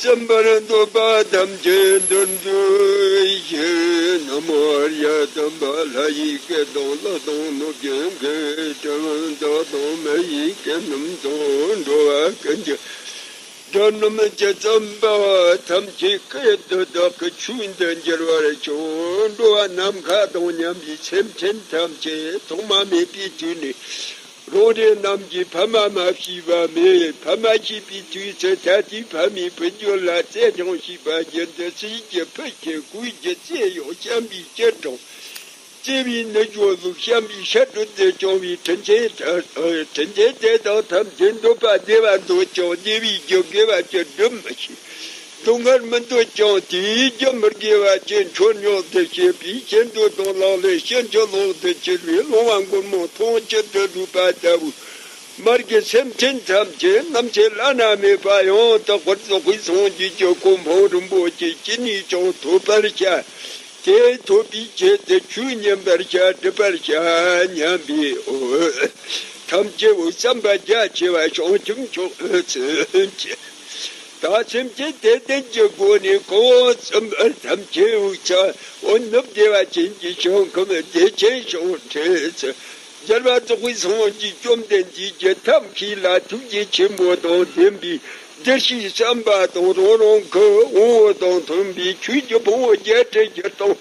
སེམས་དཔར་འདོད་པ་ཐམས་ཅད་འདུལ་འགྲོའི་ཕྱིར་ན་མོ་ཨར་ཡ་དམ་པ་ལྷ་ཡི་སྐད་དང་བློ་དང་གནོད་སྦྱིན་གྱི་དྲི་བ་མདོ་དང་མ་ཡི་སྐད་རྣམས་དང་འགྲོ་བ་ཀུན་གྱི་དོན་རྣམས་ཇི་ཙམ་པ་ཐམས་ཅད་ཀྱི་དོན་བདག་གི་ཆོས་འདི་འགྱུར་བར་བྱང་འགྲོ་བ་ནམ་མཁའ་དང་མཉམ་པའི་སེམས་ཅན་ཐམས་ཅད་ཐོག་མ་མེད་པའི་དུས་ནས་རང་རེ་རྣམས་ཀྱིས་ཕ་མ་མ་ཤི་བ་མེད་ཕ་མ་ཤི་བའི་དུས་སུ་ད་ལྟའི་ཕ་མའི་བུ་རྒྱུད་ལ་རྩེད་གྲོང་བྱེད་པ་བརྒྱུད་འདི་སྲིད་ཀྱི་ཕུད་ཆེ་གོས་ཀྱི་རྩེ་གཡོག་བཤམས་པའི་སྐྱིལ་ཀྲུང། བརྩེ་བའི་ནུ་ཞོ་གཟུགས་བཤམས་པའི་ཤ་དྲོད་དུ་བྱུང་བའི་དྲིན་ཆེན་དྲིན་ཆེན་དེ་དག་ཐམས་ཅད་འདོད་པ་བདེ་བ་འདོད་ཀྱང་བདེ་བའི་རྒྱུ་དགེ་བ་བཅུ་སྒྲུབ་མི་ཤེས། དུང་དཀར་མི་འདོད་ཀྱང་དེའི་རྒྱུ་མི་དགེ་བ་ཅན་མཆོད་མྱོང་དུ་བྱེད་པའི་ཕྱིར་མདོས་དང་ལག་ལེན་ཕྱིན་ཅི་ལོག་ཏུ་གྱུར་པའི་སློང་བ་མགོན་མོ་མཐོང་ཆེད་དུ་བསྒྲུབས་པ་ལྟ་བུ། མར་གྱི་སེམས་ཅན་ཐམས་ཅད་རྣམ་འབྱེད་བླ་ན་མེད་པ་ཡང་དག་པར་རྫོགས་པའི་སངས་རྒྱས་ཀྱི་གོ་འཕང་རིན་པོ་ཆེ་སྐྱེ་ནས་ཀྱང་ཐོབ་པར་བྱ། དེ་ཐོབ་པའི་ཆེད་དུ་ཆོས་མཉན་པར་བྱ་སྒྲུབ་པར་བྱ་སྙམ་པའི་འོད་ཐམས་ཅད་འོད་བསམ་པ་རྒྱ་ཆེ་བ་བྱང་ཆུབ་མཆོག་ཐོན་ཅིག། དག་ཁྱིམ་གྱི་དད་ལྡན་གྱི་སྒོ་ནས་ཁོ་བོ་ཚུན་པ་ཐམས་ཅད་དབུལ་ཆ་བོ་ནུབ་བདེ་བ་ཅན་གྱི་ཞིང་ཁམས་བདེ་ཆེན་ཞིང་ཁྲིར་སྦྱར་བ་རྫོགས་པའི་སངས་རྒྱས་བཅོམ་ལྡན་འདས་ཀྱི་ཐབས་མཁས་ལ་ཐུགས་རྗེ་ཆེན་པོ་དང་ལྡན་པའི་བདེར་གཤེགས་བསམ་པ་དང་རང་རང་གི་དབང་བོ་དང་མཐུན་པའི་ཆོས་ཀྱི་ཕུང་བོ་བརྒྱད་ཁྲི་བརྒྱད་སྟོང།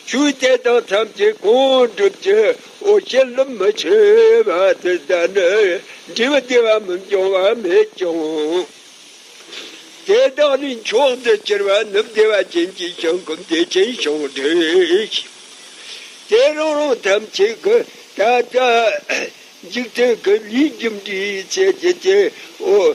ཆོས་རྒྱལ་དང་མཚམས་བཅད་གང་འགྲུབ་ཀྱི་འོ་བྱེད་རླུང་མི་ཆོད་པ་དེ་ལྟ་ན་འབྲས་བུ་བདེ་བ་མི་འབྱུང་བ་མེད་ཀྱང། དེ་དག་ལས་མཆོག་ཏུ་གྱུར་པ་ནི་བདེ་བ་ཅན་གྱི་བྱང་སྒོམ་བདེ་ཆེན་ཞིང་བསྒྲུབས་ཤིང། དེ་རང་རང་ཐམས་ཅད་ཀྱི་ད་ལྟ་འཇིག་རྟེན་གྱི་ལུས་རྒྱུ་འབྲས་ཚད་ཀྱི་སྐྱེ་བོ།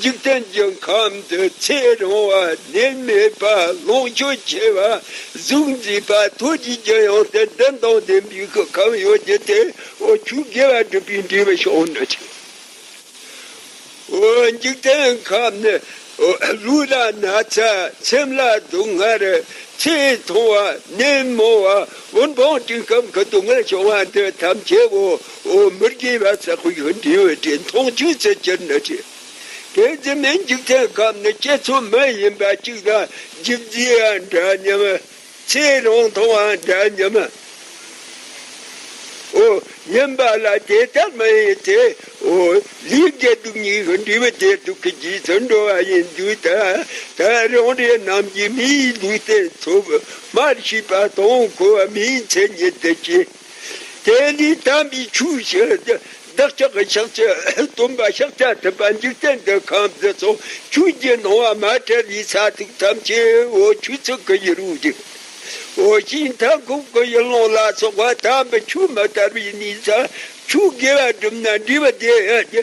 འཇིག་རྟེན་གྱི་ཁམས་འདི་ཚེ་རིང་བ་ནད་མེད་པ་ལོངས་སྤྱོད་ཆེ་བ་གཟུགས་མཛེས་པ་ཐུགས་རྗེ་ཀྱི་ཡང་སྟེ་བདུན་དང་ལྡན་པའི་ཤུགས་ཁམས་ཡོད་ཀྱི་དེ་འོ་ཆུ་དགེ་བ་སྒྲུབ་པའི་འབྲས་བུ་ཤོང་ན་ཆེ། འཇིག་རྟེན་ཁམས་ནི་ལུས་ལ་ན་ཚ་སེམས་ལ་སྡུག་བསྔལ་ཚེ་ཐུང་བ་ནད་མང་བ་བུན་འཕང་སྤྲིན་ཁམས་ཀྱི་སྡུག་བསྔལ་བྱུང་བ་འདི་ཐམས་ཅད་འོ་ཨོ་མི་དགེ་བའི་ཚལ་ཁོར་ཡུག་འབྲེལ་བའི་འབྲེལ་མཐོང་བཅུ་རྩེ་གྱུར་ནི་བྲི། དེ་འཛིན་མའི་འཇིག་རྟེན་སྐབས་ནི་སྐྱེ་ཚུལ་མ་ཡིན་པ་གཅིག་དང་འཇིག་རྫིའང་འདྲ་སྙམ། ཚེ་རང་མཐོང་བའང་འདྲ་སྙམ། ཨོ་སྙམ་པ་ལ་དེ་ལྟར་མ་ཡིན་ཏེ། ཨོ་ལུས་དགེ་སྡུག་གཉིས་ཀྱི་འབྲེལ་བའི་འབྲེལ་དུ་གི་རྗེས་སུ་འགྲོ་བ་ཡིན་དུས་ད་ལྟ་རང་རེ་རྣམས་ཀྱིས་མིའི་ལུས་རྟེན་འཚོབ་མར་བྱིས་པ་དང་ཁུ་བ་མིའི་མཚན་ཉིད་དུ་སྐྱེས། དེ་ནས་དམ་པའི་ཆོས་ཞི་བདག་ཅག་གི་ཕྱག་བྱས་སྟོན་པ་ཕྱག་རྒྱ་ཐུབ་པ་འཇིག་རྟེན་འདི་ཁམས་འདི་ཚོགས་ཆོས་བརྒྱད་སྣང་བ་མ་བྲལ་བའི་ས་ཐིག་ཐམས་ཅད་འོ་ཆུ་ཚིག་གི་ཡུལ་རུ་བསྒྲིག། འོ་ཞིང་མཐའ་འཁོབ་ཀྱི་ཡུལ་ལུང་ལ་སོགས་པ་དམ་པའི་ཆོས་མི་དར་བའི་གནས་ས་ཆོས་དགེ་བ་བསྒྲུབས་ན་འདྲེས་པ་བདེ་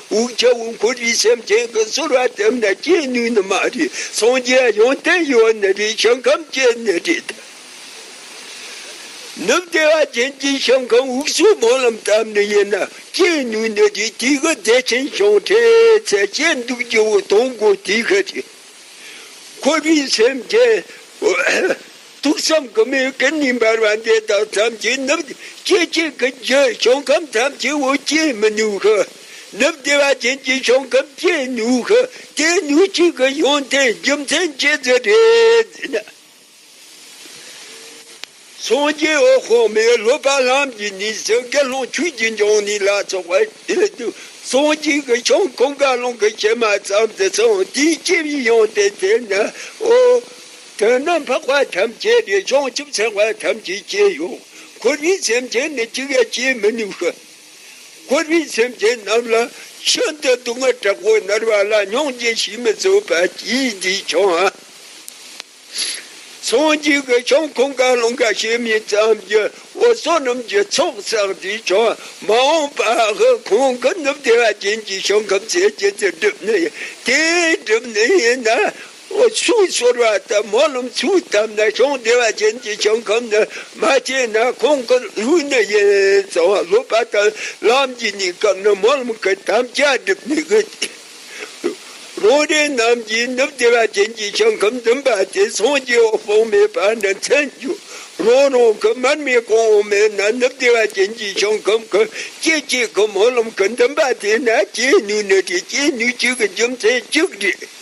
དབུལ་ཆ་དབུལ་འཁོར་རིགས་སེམས་ཅན་གྱི་ཚོར་བ་དེ་མ་སྐྱེས་ནུས་ནི་མ་རིག་སངས་རྒྱས་ཡོན་ཏན་ཡོད་པ་ནི་རིག་བྱང་ཁམས་སྐྱེས་ནི་རིག་ལྡན་ནུབ་བདེ་བ་ཅན་གྱི་བྱང་ཁམས་དབུགས་སུ་སྨོན་ལམ་བཏབ་ནི་ཡིན་ན་སྐྱེས་ནུས་ནི་རིག་དུས་ཀྱི་བདེ་ཆེན་བྱང་འཕྲལ་ཚེ་སྐྱེས་འདུག་སྐྱེ་བོ་སྟོང་སྒོ་དུས་ཀྱི་རིག་འཁོར་རིགས་སེམས་ཅན། ཐུགས་བསམ་དགུ་མའི་སྐུ་ནི་འབར་བ་འདི་དག་ཐམས་ཅད་ནུབ། སྐྱེ་མཆེད་ཀྱི་རྒྱུ་བྱུང་ཁམས་ཐམས་ཅད་འོད་ཀྱིས་མི་ནུབ་ཤི། ནུབ་བདེ་བ་ཅན་གྱི་བྱུང་ཁམས་སྐྱེས་ནུབ་ཤི། དེ་ནུབ་གཅིག་གི་ཡོན་ཏན་རྒྱུ་མཚན་བཅས་བརྫི་བྲལ་ན། སངས་རྒྱས་འོད་དཔག་མེད་ལྷོད་པ་ལམ་གྱི་ནི་ཟིལ་དགེ་སློང་ཆོས་ཀྱི་འབྱུང་གནས་ལ་སོགས་པ་ཡོད་དུ་སོང་གཅིག་གི་བྱུང་ཁམས་དགའ་སློང་གི་ཕྱི་མ་ཙམ་དུ་སོང་དེའི་སྐྱེ་བའི་ཡོན་ཏན་དེ་ནི་འོད། དོན་རྣམས་འཕགས་པ་ཐམས་ཅད་ཀྱི་བྱང་ཆུབ་སེམས་དཔའ་ཐམས་ཅད་སྐྱེ་ཡང་འཁོར་བའི་སེམས་ཅན་ནི་གཅིག་ཡང་སྐྱེ་མི་ནུས་ཤིང། འཁོར་བའི་སེམས་ཅན་རྣམས་ལ་ཤིན་ཏུ་སྡུག་བསྔལ་དྲག་པོ་མནར་བ་ལ་སྙིང་རྗེ་ཞིག་མི་བཟོད་པ་ཅིའི་རྗེས་ཀྱང་སངས་རྒྱས་ཀྱི་བྱང་ཁོངས་ག་ལ་འགའ་ཞིག་མེད་ཙམ་གྱི་འོད་སྲུང་རྣམས་ཀྱི་ཚོགས་བསགས་ཏེ་ཀྱང་མ་འོངས་པ་ཧཱུྃ་ཁོང་གི་ནུབ་བདེ་བ་ཅན་གྱི་ཞིང་ཁམས་སའི་སྐྱེ་ཚུལ་བསྒྲུབས་ནས་དེ་བསྒྲུབས་ནས་ན། ཨོ་ཆུང་ཤོར་བ་ལྟར་མོ་རླུང་ཆུ་བཏབ་ན་ཤོང་བདེ་བ་ཅན་གྱི་ཞིང་ཁམས་ནི་མ་སྐྱེས་ན་ཁོང་གི་ལུས་ནི་ཡེ་གཙང་བ་ལོག་པ་དང་ལམ་གྱི་སྙིང་སྐབས་ནི་མོ་རླུང་གི་དམ་བཅའ་སྒྲིབ་མི་དགོས་ཏེ། རང་རེ་རྣམས་ཀྱིས་ནུབ་བདེ་བ་ཅན་གྱི་ཞིང་ཁམས་འཛིན་པ་དེ་སངས་རྒྱས་འོད་དཔག་མེད་པ་ནི་མཚན་བརྗོད་རང་རང་གི་མར་མེ་གང་འོང་མེད་ན་ནུབ་བདེ་བ་ཅན་གྱི་ཞིང་ཁམས་ཀྱི་སྐྱེ་མཆེད་ཀྱི་མོ་རླུང་གི་འཛིན་པ་དེ་ནི་སྐྱེས་ནུས་ནི་དེ་སྐྱེས་ནུས་གཅིག་གི་རྒྱུ་མཚན་གཅིག་རེད།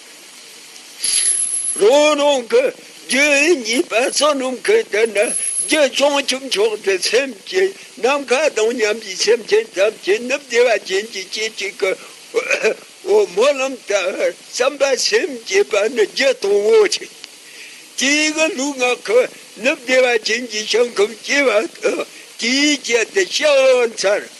རང་རང་གི་རྒྱུད་གཉིས་པ་བསོད་ནམས་ཀྱི་དེ་ནི་རྒྱུད་བྱང་ཆུབ་མཆོག་ཏུ་སེམས་ཀྱི་ནམ་མཁའ་དང་མཉམ་པའི་སེམས་ཅན་ཐམས་ཅད་ནི་བདེ་བ་ཅན་གྱི་སྐྱེ་མཆེད་ཀྱི་འོད་སྨོན་ལམ་ལྟར་བསམ་པ་སེམས་བསྐྱེད་པ་ནི་རྒྱུད་དང་བོ་ཆེ། དེའི་གི་ལུས་ངག་གི་ནི་བདེ་བ་ཅན་གྱི་ཞིང་ཁམས་སྐྱེ་བ་དང་དེའི་རྒྱུད་དུ་ཕྱག་ལེན་མཚར།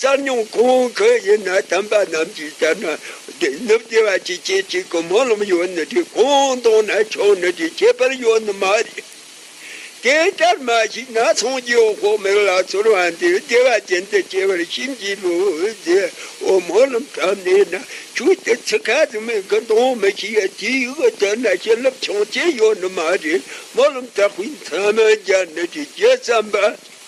གསར་རྙིང་གོང་འོག་གི་ཡི་ན་དམ་པ་རྣམས་ཀྱིས་ལྟར་ན་ནུབ་བདེ་བ་ཅིག་སྐྱེས་གཅིག་གི་སྨོན་ལམ་ཡོད་ནི་དེ་གོང་དང་ན་ཆུང་ནི་དེ་ཁྱད་པར་ཡོད་ནི་མ་རེད། དེ་ལྟར་མ་ཞིག་ན་སངས་རྒྱས་འོག་མིན་ལ་ཚོར་བ་འདི་བདེ་བ་ཅན་དུ་སྐྱེ་བར་ཤིན་གྱིས་བློ་རྗེ་བོ་སྨོན་ལམ་གྲབས་ནས་ན་ཆུང་དེ་ཚིག་ཁ་ཟིག་མིང་གི་མདོངས་མི་ཤེས་ཡ་དེའི་ཡུལ་གྱི་དོན་ན་བྱིན་རླབས་ཆང་སྐྱེས་ཡོད་ནི་མ་རེད་སྨོན་ལམ་གྲགས་པའི་མཚན་མ་རྒྱ་ནི་དེ་རྒྱལ་བསམ་པ།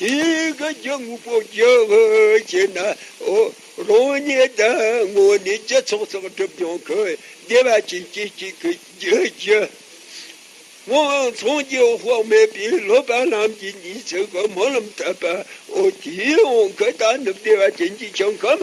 དེ་ག་རྒྱ་དངོས་པོ་རྒྱག་བྱེད་ན། རང་ཉིད་དང་དངོས་གནས་སྤྱི་ཚོགས་ཚགས་སྒྲུབ་སྦྱོང་གི་བདེ་བ་ཅན་གྱི་གཅིག་གི་རྒྱུ་རྒྱུ་དངོས་མཚུངས་ཀྱི་དཔག་མེད་པའི་སློབ་པ་རྣམས་ཀྱི་ཉིན་ཚེ་གི་སྨོན་ལམ་དད་པ་འོ་དེའི་དབང་གིས་ད་ནི་བདེ་བ་ཅན་གྱི་བྱང་ཁམས